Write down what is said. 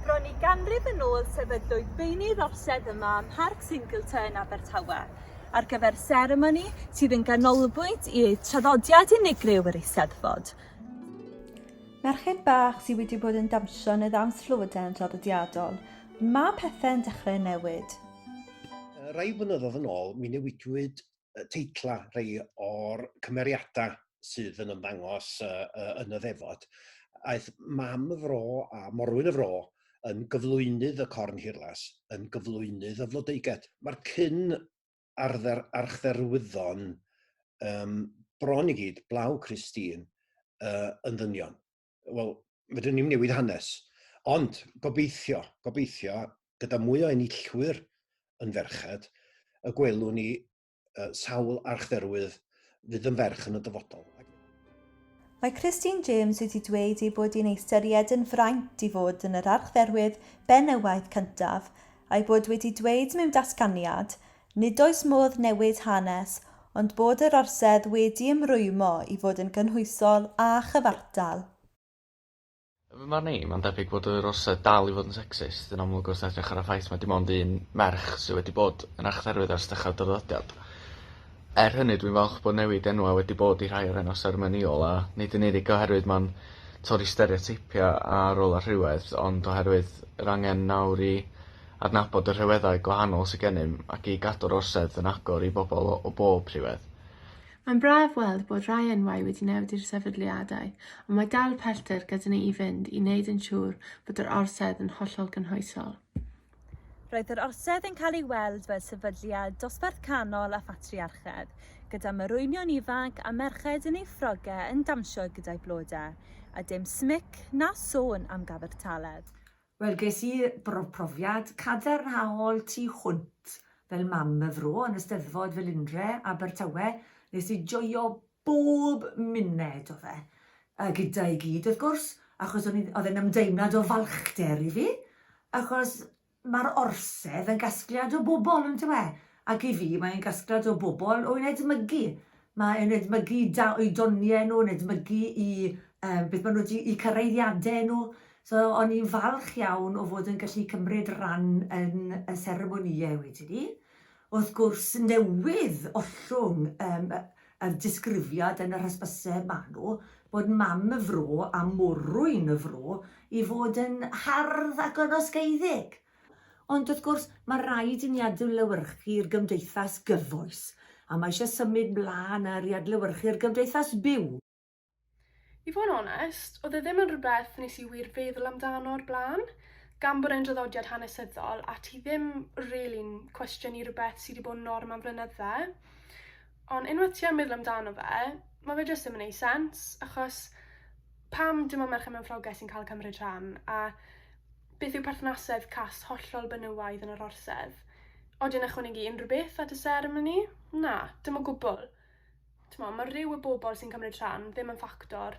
Bron i ganrif yn ôl sefydlwyd beunydd orsedd yma ym Mharc Singleton yn Abertawe ar gyfer seremoni sydd yn ganolbwynt i traddodiad unigryw yr Eisteddfod. Merched bach sydd wedi bod yn dawnsio yn y ddawns llywodrefn draddodiadol, ond mae pethau'n dechrau newid. Rai blynyddoedd yn ôl, mi newidwyd teitlau rhai o'r cymeriadau sydd yn ymddangos uh, uh, yn y ddefod. Aeth mam y fro a morwyn y fro yn gyflwynydd y corn hirlas, yn gyflwynydd y flodeiged. Mae'r cyn arfer archdderwyddon um, bron i gyd, blaw Christine, uh, yn ddynion. wel, fydden ni'n newid hanes. Ond gobeithio, gobeithio, gyda mwy o enillwyr yn ferched, y gwelwn ni uh, sawl archdderwydd fydd yn ferch yn y dyfodol. Mae Christine James wedi dweud ei bod hi'n ei ystyried yn fraint i fod yn yr archdderwydd benywaidd cyntaf, a'i bod wedi dweud mewn datganiad, Nid oes modd newid hanes, ond bod yr orsedd wedi ymrwymo i fod yn gynhwysol a chyfartal. Yn fy marn i, mae'n debyg bod yr orsedd dal i fod yn secsist, yn amlwg wrth edrych ar y ffaith mai dim ond un merch sydd wedi bod yn archdderwydd ers dechrau'r draddodiad. Er hynny, dwi'n falch bod newid enwau wedi bod i rhai o'r enwau seremonïol, a nid yn unig oherwydd mae'n torri stereoteipiau a rolau rhywedd, ond oherwydd yr angen nawr i adnabod y rhyweddau gwahanol sydd gennym ac i gadw'r Orsedd yn agor i bobl o bob rhywedd. Mae'n braf weld bod rhai enwau wedi newid i'r sefydliadau, ond mae dal pellter gyda ni i fynd i wneud yn siŵr bod yr Orsedd yn hollol gynhwysol. Roedd yr Orsedd yn cael ei weld fel sefydliad dosbarth canol a phatriarchedd, gyda morwynion ifanc a merched yn eu ffrogau yn dawnsio gyda'u blodau, a dim smic na sôn am gyfartaledd. Wel ges i brofiad cadarnhaol tu hwnt fel mam y fro yn y Steddfod Felindre, Abertawe, nes i joio bob muned o fe. A gyda i gyd wrth gwrs, achos o'n i, oedd e'n ymdeimlad o falchder i fi, achos ma'r orsedd yn gasgliad o bobl, yndyw e? Ac i fi, mae e'n gasgliad o bobl, o yn edmygu. Mae e'n edmygu da oedoniau nhw, yn edmygu i um, beth maen nhw wedi, i cyraeddiadau nhw. So, o'n i'n falch iawn o fod yn gallu cymryd ran yn y seremonïau wedyn ni. Wrth gwrs, newydd ollwng um, y disgrifiad yn yr hysbyseb maen nhw, bod mam y fro a morwyn y fro i fod yn hardd ac yn osgeiddig. Ond wrth gwrs, mae rhaid i ni adlewyrchu'r gymdeithas gyfoes, a mae eisiau symud mlaen ar i adlewyrchu'r gymdeithas byw. I fod yn onest, oedd e ddim yn rhywbeth nes i wir feddwl amdano o'r blaen, gan bod e'n draddodiad hanesyddol a ti ddim rili'n cwestiynu rhywbeth sy' 'di bod yn norm am flynydde. Ond unwaith ti yn meddwl amdano fe, ma' fe jyst ddim yn neu' sense achos pam dim ond merched mewn ffrogeg sy'n ca'l cymryd rhan a beth yw perthnasedd cast hollol benywaidd yn yr orsedd? Odi e'n ychwanegu unryw beth at y seremoni? Na, dim o gwbwl. T'mo' ma' rhyw y bobol sy'n cymryd rhan ddim yn ffactor